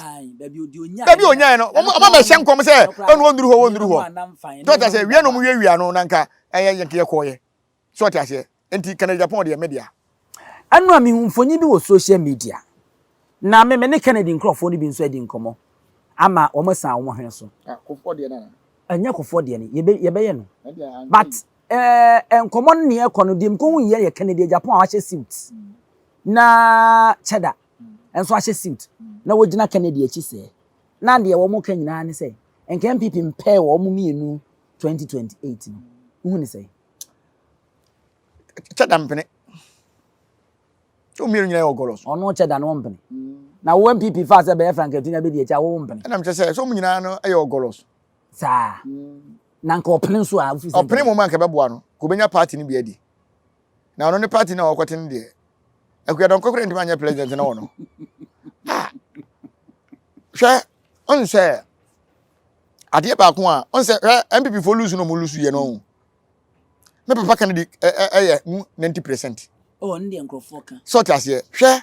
Speaker 1: dabi
Speaker 4: onyae no ɔmo ɔmo
Speaker 1: abɛhyɛ nkɔm sɛ ɛnu onduru hɔ onduru hɔ tí ɔte aseɛ wia na ɔmo wia wia no na nka ɛyɛ yɛ yɛ kɔɔ yɛ tí ɔte aseɛ nti kɛnɛ japan deɛ mɛ deɛ. ɛnu a
Speaker 4: mihu mfonyin bi wɔ social media na me me ne kennedy nkorɔfoɔ no bi nso adi nkɔmɔ ama wɔn asan wɔn hwene so. Ah, kofoɔ deɛ na.
Speaker 1: ɛnyɛ kofoɔ deɛ no
Speaker 4: yɛbɛ yɛbɛyɛ no but Eh, nkɔmmɔ no neɛ ɛkɔ no, deɛ mekɔhu yi yɛ Kennedy deɛ Japan a wahyɛ suit na kyɛda nso ahyɛ suit na wɔgyina Kennedy akyi sɛɛ na deɛ wɔn ka nyinaa ne sɛ nka NPP mpɛɛ wɔn mmienu 2028 no wohu ne sɛ
Speaker 1: kyɛda mpene womienu nyinaa wɔ gɔlɔs ɔno kyɛda no mpene
Speaker 4: na wo NPP fa sɛ bɛyɛ frankatina bɛdi akyi a wo mpene ɛnam kyɛ sɛ sɛ wɔn nyinaa
Speaker 1: no yɛ wɔ gɔlɔs Saa.
Speaker 4: Na nka ɔpene nso a wofiri sɛ. Ɔpene mmom a nka ɛbɛboa no.
Speaker 1: Nka obenya party no bi adi. Na ɔno ne party no a ɔkɔte no deɛ. Akua Donkor koraa ntumi anyɛ president na wɔ no. Ah! Hwɛ, ɔn sɛ adeɛ baako a ɔn sɛ hwɛ MPP fo lose na ɔmo lose yɛ no ɔn. Me papa Kennedy ɛyɛ mu 90 percent. Oh, ɔno deɛ nkurɔfoɔ
Speaker 4: ka. Sɛ ɔte aseɛ hwɛ.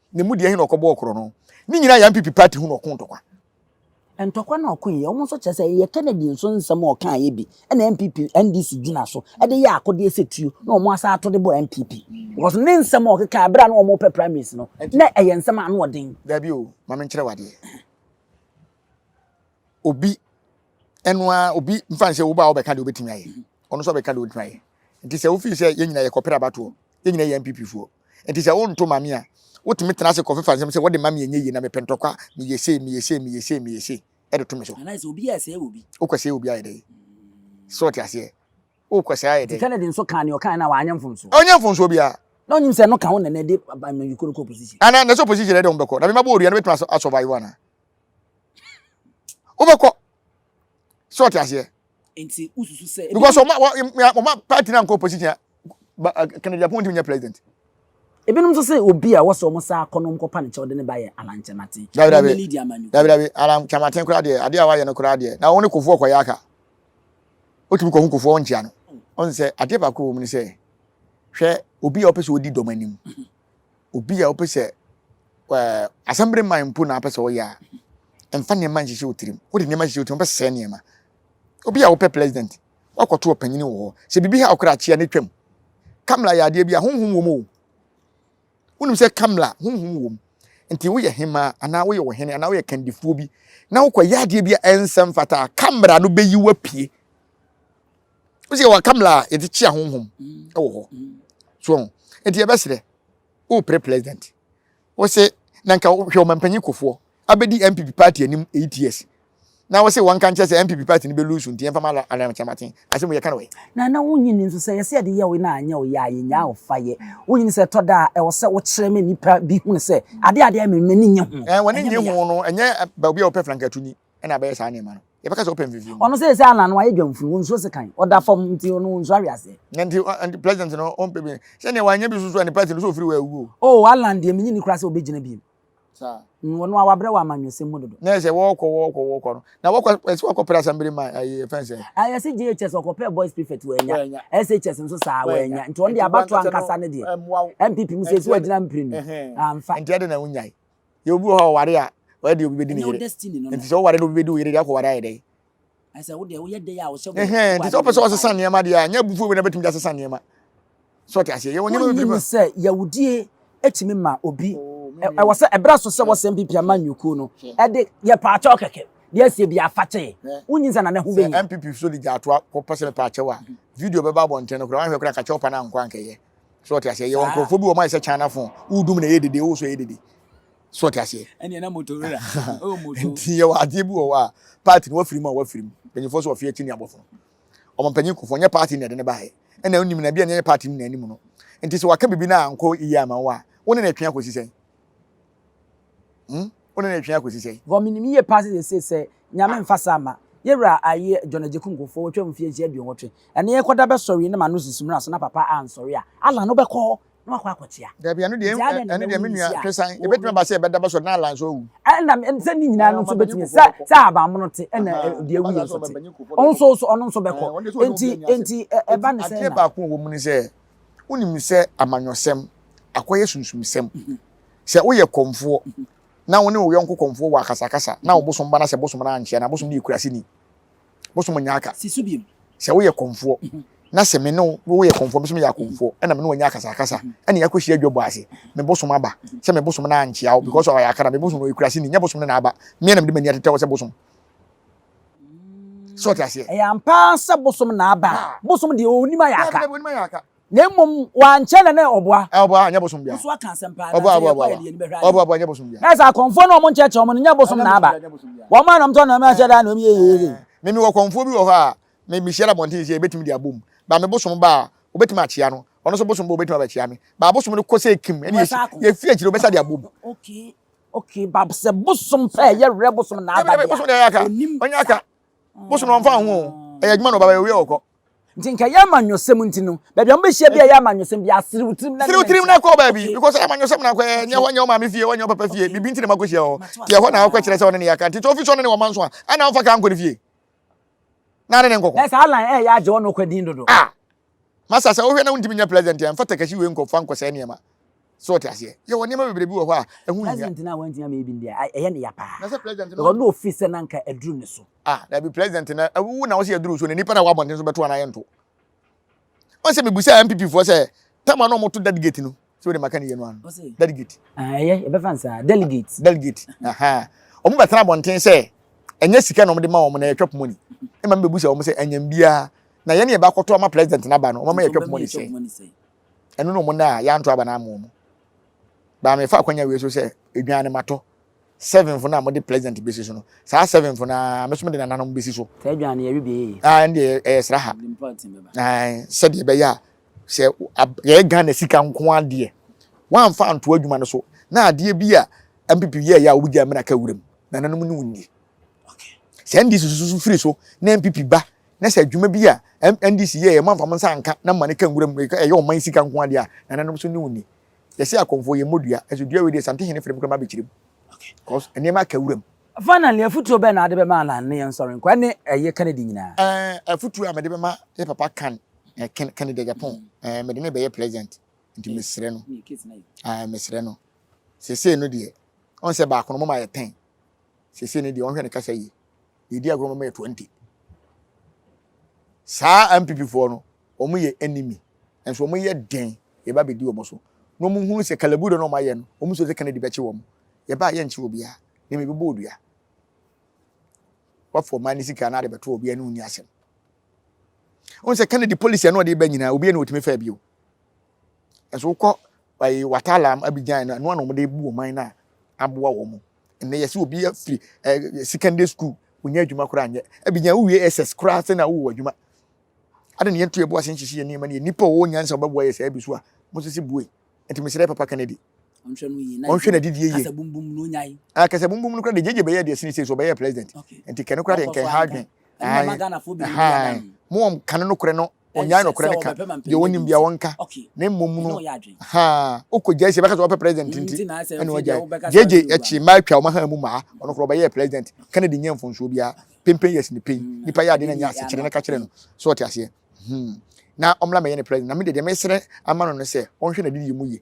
Speaker 1: Ne mu deɛ he na ɔkɔbɔɔ korɔ no. Ne nyinaa yɛ NPP party ho na ɔko ntɔkwa. Ntɔkwa
Speaker 4: na ɔko yɛ. Wɔn nso kyerɛ sɛ ɛyɛ Kennedy nso nsɛm a ɔkaeɛ bi na NPP, NDC gyina so de yɛ akodeɛ sɛ tuo na wɔn asan ato de bɔ NPP. Because ne nsɛm a ɔkekaeɛ berɛ a na wɔn repɛ primaries no, na ɛyɛ nsɛm a ano ɔden. Daabi o, ma me nkyerɛ
Speaker 1: wo adeɛ. Obi, ɛno ara, obi mfa nsɛ wo ba a wobɛka deɛ wobɛtumi ayɛ. Ɔno nso ɔbɛka deɛ ɔbɛtumi ayɛ. Nti sɛ wofii sɛ yɛn nyinaa yɛkɔpere abatoɔ, yɛn nyinaa yɛ NPP foɔ. Enti sɛ wonto mma me a, wotumi tena ase kɔfefa nsɛm sɛ, 'Wɔde ma me a ɛnyɛ yie, na mepɛ ntɔkwa, meyɛ sei, meyɛ sei, meyɛ sei, meyɛ sei, de to me so. Anaasɛ obi yɛ sɛɛ wɔ obi.
Speaker 4: Wokɔ sɛɛ obi ayɛ dɛn?
Speaker 1: So wote aseɛ? Wokɔ sɛɛ ayɛ dɛn? Enti Kennedy nso kaa nea ɔkaeɛ no a
Speaker 4: wanyɛ mfomsoɔ? Ɔnyɛ mfomsoɔ biara.
Speaker 1: Na ɔnim sɛ ɛno ka ho na
Speaker 4: na ɛde amanyɔkuo no kɔ opposition. Anaa na sɛ opposition na ɛde wɔn
Speaker 1: bɛkɔ, na mema bɔ wɔ dua no bɛtumi asɔvaivo anaa? Wobɛkɔ. So wote aseɛ?
Speaker 4: nti wosusu sɛ. because ɔma
Speaker 1: ɔma party na nkɔ opposition a kennedy apɔn ntumi nyɛ president. ebinom nso
Speaker 4: sɛ obi a wɔsɛ wɔn saa akɔnɔ wɔn kɔpa ne kyɛw de ne ba yɛ alan kyɛmaten. dabi dabi dabi dabi
Speaker 1: alan kyɛmaten koraa deɛ adeɛ a wayɛ no koraa deɛ na wɔn ne kofoɔ kɔyɛ aka otumi kɔ ho kofoɔ wɔn nkyia no ɔn sɛ adeɛ baako wɔ mu ne sɛ hwɛ obi a ɔpɛ sɛ odi dɔm anim. obi a wopɛ sɛ ɛɛ asɛmbere man mpo na apɛ sɛ ɔyɛ a mfa nneɛma nhyehyɛ wo tirim wode nneɛma hyehyɛ wo tirim wobɛsɛe nneɛma obi a wopɛ president wakɔto ɔpanyini wɔ hɔ sɛ biribi ha ɔkora akyea ne twam kamla yɛ adeɛ bi a honhom wɔ mu o wonim sɛ kamla honhom wɔ mu nti woyɛ hemaa anaa woyɛ ɔhene anaa woyɛ kandifoɔ bi na wokɔyɛ adeɛ bi a ɛnsɛ mfata kamera no bɛyi wapue o sɛ yɛwɔ akamla a yɛde kyea honhom wɔ hɔ so ɔho nti yɛbɛserɛ wopere president wo se na nka hwɛ ɔmampanyin kofoɔ abɛdi mpp party anim 8 years na wo se wɔnka nkyɛ sɛ mpp party no bɛlu so nti yɛmfa ma anakyɛmaten asɛm yɛka no wɔ na na wonyini nso
Speaker 4: sɛ yɛsɛ yɛde yɛ wo na anyɛ wo yɛ a yɛnyaa wo fa yɛ wonyini sɛ ɛtɔ da a ɛwɔ sɛ wokyerɛ me nipa bi hunu sɛ ade adeɛ memmɛ ne
Speaker 1: nyɛ
Speaker 4: ho
Speaker 1: wɔne nyɛ ho
Speaker 4: no
Speaker 1: ɛnyɛ baabi
Speaker 4: a
Speaker 1: wɔpɛ frankatunyi na abɛyɛ saa
Speaker 4: nneɛma
Speaker 1: no, yɛbɛka sɛ ɔpɛ mfimfini. Ɔno seesei ara no wayɛ
Speaker 4: dwamfunu, ɔnsuro sekan, ɔda fam nti ɔno ɔnsuro aweaseɛ. Na nti nti president
Speaker 1: no ɔmpɛ bi sɛdeɛ wanyɛ bi soso a ne party no sɛ ɔfiri hɔ awu o. Oh Allan deɛ menye ni
Speaker 4: koraa sɛ ɔbɛgyina biom. Saa.
Speaker 1: Ɔno a wabrɛ wɔ
Speaker 4: amanyɔsɛm mu dodo. Na ɛsɛ wɔɔkɔ wɔɔkɔ
Speaker 1: wɔɔkɔ no na wɔkɔ ɛsɛ wɔkɔ pere assembly ma ayi ɛfɛn sɛ. Ah yɛse JHS
Speaker 4: ɔkɔpɛɛ boys prefect wanya, SHS nso saa wanya nti ɔno deɛ abatoɔ ankasa no deɛ ɛmmoa wo. NPP mu sɛ ɛsɛ wagyina mprenu, amfa. Nti ɛde na wonyae.
Speaker 1: yɛ obi wɔ hɔ a ɔware a ɔyɛ deɛ obi bɛdi ne yere nti sɛ woware na obi bɛdi wo yere deɛ akɔware ayɛ dɛn
Speaker 4: nti sɛ wopɛ sɛ ɔsesa
Speaker 1: nneɛma deɛ a nyɛ abufuo wei na bɛtumi de asesa nneɛma sɛ ɔte aseɛ yɛwɔ nneɛma bɛfiri mu sɛ yɛwodie
Speaker 4: ɛtumi ma obi ɛwɔ sɛ ɛberɛ so sɛ wɔsɛ mpp ama nnwukuo no ɛde yɛ paakyɛw kɛkɛ deɛ asie bi afakyɛ wonyi sɛ na ne ho bɛnya mpp so de gya
Speaker 1: atoa kɔpɛ sɛ mepaakyɛw a video bɛba abɔnten no koraa wahwɛ koraa kakyɛw pa no ankɔ ankɛyɛ so ɔte aseɛ yɛwɔ nkurɔfoɔ bi wɔ mayɛ sɛ china phone wodum na ɛyɛ dede wo so ɛyɛ dede so ɔte aseɛ
Speaker 4: nti yɛwɔ adeɛ
Speaker 1: bi wɔ hɔ a party no wafiri mu a wafiri mu mpanyinfoɔ so ɔfeɛ ti ne abɔfo ɔmo mpanyin kofoɔ nyɛ party na ɛde ne baayɛ ɛna onim na bi a nyɛ party no na anim no nti sɛ waka bibi na ankɔ yie ama wo a wo ne na ɛtwe akɔsi sɛn Hmm? Wo ne no retwɛn akɔsi sɛn? Vɔ menim yie paa sɛ seesei
Speaker 4: sɛ Nyame mfa saa mma, yɛ wura aye John Agyeku Nkurfoɔ watwam mfeɛ nsia aduonwɔtwe, ɛnɛ yɛkɔda bɛsɔre yi na m'ano sisi mmura so na papa ansɔre a, Allan wobɛkɔ hɔ na wakɔ akɔkyea? Dabi, ɛno deɛ, Nti adɛn
Speaker 1: na ɛno deɛ me ɛbɛwo nua nsi a Twesan, wo ɛbɛtumi aba sɛ yɛbɛda bɛsɔre na Allan nso awu. Ɛna me, sɛ ne
Speaker 4: nyinaa no nso bɛtumi, sɛ sɛ ahabammono te ɛna Aha, ɛ- deɛ ɛba awuiɛ saa sɛ nso ɔba te. mpanyin Nkurfoɔ Ɔno bɛkɔ. nso so, ɔno nso bɛkɔ. Ɛɛ, ɔno deɛ sɛ ɔne Enti, obi anya asɛm. enti ɛ- ɛba Enti ne sɛn adeɛ na? baako a ɛwɔ mu ne sɛ,
Speaker 1: wonim sɛ amanyɔsɛm, akɔyɛ sunsumsɛm, Sɛ woyɛ kɔmfoɔ na wo ne wo yɔnko kɔmfoɔ wɔ akasakasa na wo bosom ba na sɛ bosom no ankyɛ na bosom no yɛ kuraseni, bosom nyɛ aka. Sɛ woyɛ kɔmfoɔ na sɛ me ne wo woyɛ kɔmfoɔ me nso meyɛ akɔmfoɔ ɛna me ne wanya akasakasa ɛna yɛakɔhyia adwabɔ ase me bosom aba sɛ me bosom no ankyea wo because ɔyɛ aka na me bosom no ɔyɛ kuraseni nyɛ bosom no na aba mmea na mede m'ani atetɛ wɔ sɛ bosom sɛ ɔte aseɛ. Ɛyɛ ampa sɛ
Speaker 4: bosom na aba bosom deɛ ɔnim ayɛ aka. Na mmom wankyɛ na ne ɔboa. Ɔboa nyɛ bosom bia.
Speaker 1: Nso aka asɛm paa. Ɔboa
Speaker 4: ɔboa ɔboa. Ɔboa
Speaker 1: ɔboa nyɛ bosom bia. Na sɛ akɔmfoɔ no wɔn nkyɛkyɛ
Speaker 4: wɔn no nyɛ bosom na aba. Wɔn a na wɔn tɔ na wɔn ahyɛ da na wɔn yɛ yɛ yɛ. Me me wɔ kɔmfoɔ bi wɔ hɔ
Speaker 1: a me me hyia na bɔnten sɛ ebetumi de abom ba me bosom ba a obetumi akyea no ɔno nso bosom ba obetumi aba kyea me ba bosom no kɔ sɛ kim ɛne yɛ fi akyire obɛsa de abom. Okay okay
Speaker 4: ba sɛ bosom pɛ yɛ werɛ bosom na aba bia. Bosom de ɛyɛ aka
Speaker 1: ɔnyɛ aka bosom na wɔn fa ho ɛyɛ adwuma na ɔba bɛ owia ɔkɔ. Nti nka ɛyɛ
Speaker 4: amanyɔsɛm nti no, baabi a wɔbɛhyia bi a ɛyɛ amanyɔsɛm bi aserew tirim na serew tirim na kɔ baabi
Speaker 1: because ɛyɛ amanyɔsɛm na akɔyɛ nyɛ hɔ nyɛ wɔn maame fie wɔnyɛ wɔn papa fie biribi nti na makɔhyia hɔ nti ɛhɔ na akɔ kyerɛ sɛ ɔne ne yɛaka nti sɛ ofi sɛ ɔne ne wɔma nso a ana ɔmfa kaa nkɔ ne fie na ne ne nkɔkɔ na sɛ alan ɛyɛ agye ɔno
Speaker 4: kɔ din dodo ah masa
Speaker 1: sɛ wohwɛ na wontumi nyɛ president a mfa takashi wei nkɔ fa nkɔ sɛ nneɛma So wote aseɛ? Yɛwɔ nneɛma bebree bi wɔ hɔ a, ɛho nhia. President no a wantumi ammɛyɛ bi no deɛ,
Speaker 4: a, ɛyɛ no ya paa. Na sɛ president no. Because na
Speaker 1: ɔfeel sɛ na anka
Speaker 4: aduru ne so. Ah, daabi, president no,
Speaker 1: a, wo na wose aduru wo so, na nnipa no a ɛwɔ abɔnten nso bɛto anaa yɛnto. Wɔn sɛ mebusaa NPP foɔ sɛ, tam a na wɔto delegate no, sɛ wode maka ne yie no ano. Ɔse. Delegate. Ah, ɛyɛ, yɛbɛfa no
Speaker 4: saa, delegate. Delegate, aha.
Speaker 1: Wɔn bɛtena abɔnten sɛ, ɛnyɛ sika na wɔde ma wɔn, na ɛyɛ twɛp money. Ɛma mebebusa wɔn sɛ, anyam biara, na yɛne yɛbɛakɔto ama president no aba no, wɔn ama yɛ twɛp money sɛn? Ɛno na ɔmo nna a yɛanto aba no ama ɔmo. Baa mefa akwanya wei so sɛ edwan no matɔ seven fo no a mode president besi so no. Saa seven fo no ara me so mede nananom besi so. Saa edwan no yɛwe bi eye.
Speaker 4: Ae ɛnde ɛyɛ sraha.
Speaker 1: Ae sɛdeɛ ɛbɛyɛ a sɛ yɛyɛ Ghana sika nko ara deɛ wamfa anto adwuma no so na adeɛ bi a NPP yɛɛyɛ a wobegyae mmra ka wuram. Nananom ne wo nni. Sɛ NDC susu so firi so na NPP ba Na sɛ adwuma bi a MNDC yɛɛ yɛ manfa mo nsa anka na mma no ka nwura mu, ɛyɛ ɔman sika nko ara deɛ a, nananom so ne wo nni. Yɛse akɔmfoɔ yɛmmɔ dua, nso dua wei deɛ Santehene frɛ me koraa mabɛkyiri mu, cos nneɛma aka wuram. Finally, afutuo
Speaker 4: bɛn na ade bɛma Allan ne yɛn sɔre nkwa ne ɛyɛ Kennedy nyinaa? Eh, afutuo a mede
Speaker 1: bɛma yɛ papa Can, eh, Ken, Kennedy Agyapong, eh, mede no rebɛyɛ President, nti mesrɛ no, ah, mesrɛ no, sesei no deɛ, ɔn sɛ baako no moma yɛ ten, sesei no deɛ ɔnhwɛ ne kasa yie. Yɛdi agorɔ ma mɛyɛ 20. Saa NPP foɔ no, wɔn yɛ enemy. Nso wɔn yɛ den, yɛba bɛdi wɔn so. Na wɔn hunu sɛ kalabudo na wɔn ayɛ no, wɔn sure sɛ Kennedy bɛkye wɔn. Yɛba a yɛnkyere obiara, na mmom yɛbɛbɔ odua. Wafa ɔman no sika na ade bɛto obiara ne wɔn nni asɛm. Wɔn sɛ Kennedy policy a na ɔde ba nyinaa, obiara na ɔtumi faa bio. Nso wokɔ ɛyi watala mu abigyan no ɛno na wɔn de bu ɔman no a aboa wɔn mu ɛnna yɛsi obi afiri ɛɛ secondary school wonya adwuma koraa nyɛ abigyan wowie ss koraa sɛ na wowɔ adwuma ade ne yɛnto yɛbo ase nhyehye yɛ nneɛma ne nipa ɔwɔ nyansa ɔbɛboa yɛ sɛ ɛbi so a mo sisi bue nti mesrɛ papa kennedy ɔnhwɛ no yie ɔnhwɛ na didi yie kasabumbum no nyae
Speaker 4: ah kasabumbum no koraa de
Speaker 1: gyegye bɛyɛ deɛ sini sɛ so ɔbɛyɛ president nti kɛne koraa de nkɛn ha adwen ɛhan mo wɔn kane no korɛ no ɔnyae nokorɛ no ka deɛ ɔnim bia ɔnka na mmom no haa wokɔgyae sɛ bɛka sɛ wɔpɛ president nti ɛne ɔgyae gyegye akyi mmaa atwa wɔn haa mu mmaa ɔno korɔ ɔbɛyɛɛ president Kennedy nyɛ mfonsoɔ biara pempen yɛs ne pɛi mm. nipa yɛ ade na nyɛ asekyerɛ no ka kyerɛ no sɛ ɔte aseɛ hmm. na ɔmmra mɛyɛ ne president na mede deɛ mesrɛ ama no no sɛ ɔnhwɛ n'adedie mu yie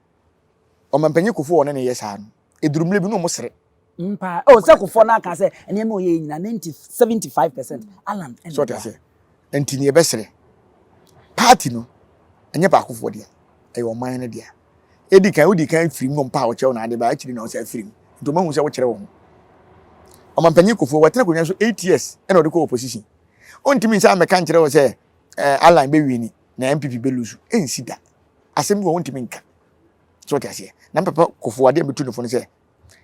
Speaker 1: Ɔmampanyin Kufuor a ɔne no yɛ saa no, eduru mmere bi na wɔsere. Me paa. Oh, sɛ
Speaker 4: Kufuor no aka sɛ nneɛma a ɔyɛe nyinaa, 90, 75 percent, Allan na So ɔte ɔboa. aseɛ?
Speaker 1: Nti nea ɛbɛsere party no nyɛ baakofoɔ dea, ɛyɛ ɔman no dea. Edi kan, wodi kan firi mu mpa a wɔkyerɛ wo n'ade ba, akyiri na wosan firi mu. Nti wɔahu sɛ wokyerɛ wo ho. Ɔmampanyin Kufuor, watena akonnwa no so eight years na ɔde kɔɔ opposition. Ontumi nsan mmɛka nkyerɛ wo sɛ eh, Allan bɛwini. Na NPP bɛ lose ɛnsi da. Asɛm bi wɔ hɔ ntumi nka. So wote aseɛ? Na mpapa kofo adeɛ a metu ne fo no sɛ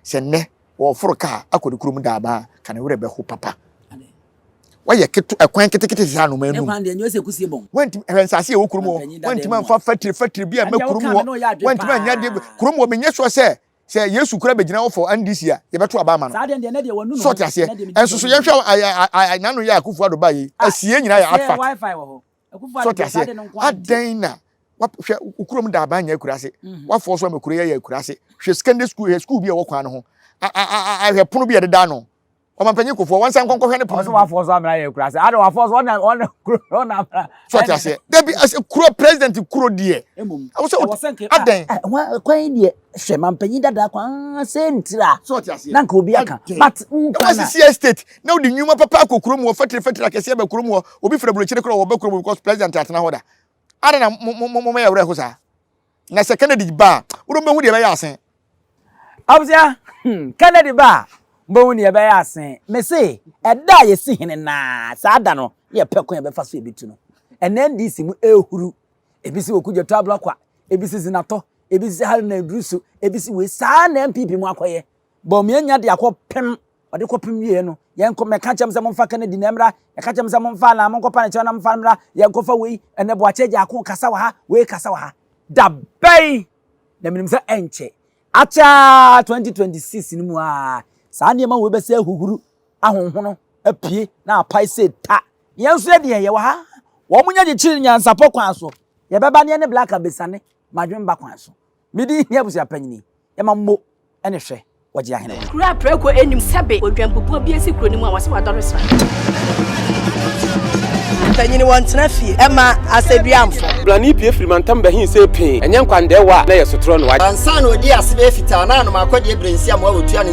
Speaker 1: sɛ nnɛ wɔforo kaa akɔ ne kurom daama a ka ne werɛ bɛho papa. Wayɛ keto ɛkwan ketekete saa no ɔman num.
Speaker 4: Wantumi ɛhwɛ nsaase a ɛwɔ
Speaker 1: kurom hɔ wantumi amfa fatire fatire bi ɛmɛ kurom hɔ wantumi anyɛ adeɛ kurom hɔ menyɛ sure sɛ sɛ yesu kura bɛgyina hɔ for NDC a yɛbɛto aba ama no. So wote
Speaker 4: aseɛ? Ɛnso so
Speaker 1: yɛnhwɛ a a a n'ano yɛ a Akufo-Addo baeɛ yi asieɛ nyinaa yɛ artfact.
Speaker 4: So ɔte aseɛ?
Speaker 1: Adɛn na hwɛ wo kurom da aban nyɛ akura ase. Mhm. Wafoɔ so ama kuro yɛ yɛ akura ase. Hwɛ secondary school hwɛ school bi a ɛwɔ kwan no ho. Ahwɛ pono bi a ɛdeda ano. Ɔmampanyin kofoɔ wɔn nsa nkɔnkɔhwɛ ne pono. Ɔso wafoɔ so amena yɛ akura
Speaker 4: ase. Ada wafoɔ so ɔna ɔna kuro ɔna amena. So ɔte aseɛ?
Speaker 1: Dabi ase kuro president kuro deɛ. Ɛwɔ sɛ adɛn. Kwan yi deɛ.
Speaker 4: hwɛ mampanyin dadaa kɔ aa sɛ ntira na nka obi
Speaker 1: aka but
Speaker 4: nkwa na sisi estate
Speaker 1: na odi nnwuma papa akɔ kurom wɔ fɛtiri fɛtiri akɛse ɛbɛ kurom wɔ obi fira burokyire korɔ wɔ bɛ kurom because president atena hɔ da ada na mo mo mo yɛ werɛ ho saa na sɛ kennedy ba a wodɔ mbɛhu deɛ ɛbɛyɛ asen abusua
Speaker 4: hmm kennedy ba a mbɛhu deɛ ɛbɛyɛ asen mese ɛda a yɛsi hene naa saa da no yɛ pɛ kwan yɛbɛfa so ebetu no ɛnɛ ndc mu ehuru ebi si okugye tɔ abla kwa ebi si zina tɔ ebi si hali na eduru so ebi si wei saa na npp mu akɔyɛ bɔn mu enya de akɔ pem ɔde kɔ pem wie no yɛn kɔ mɛka kyɛm sɛ momfa kennedy na mmra ɛka kyɛm sɛ momfa na monkɔ pa ne kyɛw na momfa mmra yɛn kɔfa wei ɛnɛ boakye agya ako kasa wɔ ha wei kasa wɔ ha da bɛn na menim sɛ ɛnkyɛ akyɛ 2026 no mu a saa nneɛma wei bɛsɛ ahuhuru ahonhono apue na apae sɛ ta. Yɛn nso yɛ deɛ yɛwɔ ha. Wɔn nyɛ kyekyere nyansapɔ kwan so. Yɛbɛba ne yɛne Black abɛsiane madwemba kwan so. Me din hia abusua panyini. Yɛma mmo ne hwɛ wɔ gye ahene. Kuro a prɛko nnim
Speaker 5: sɛbe odwanpupuo bi asi kuro no mu a wɔse wadɔre sra. Mpanyini
Speaker 6: wɔn tena fie ɛma asɛduamfo. Blani pie firi
Speaker 2: mantam bɛhin sɛ pee, ɛnyɛ nkwandɛɛwa a na yɛ sotorɔ no wagye. Ansa na ɔdii ase bɛyɛ
Speaker 6: fitaa na anom akɔdeɛ berɛnsiamoa ɔtua ne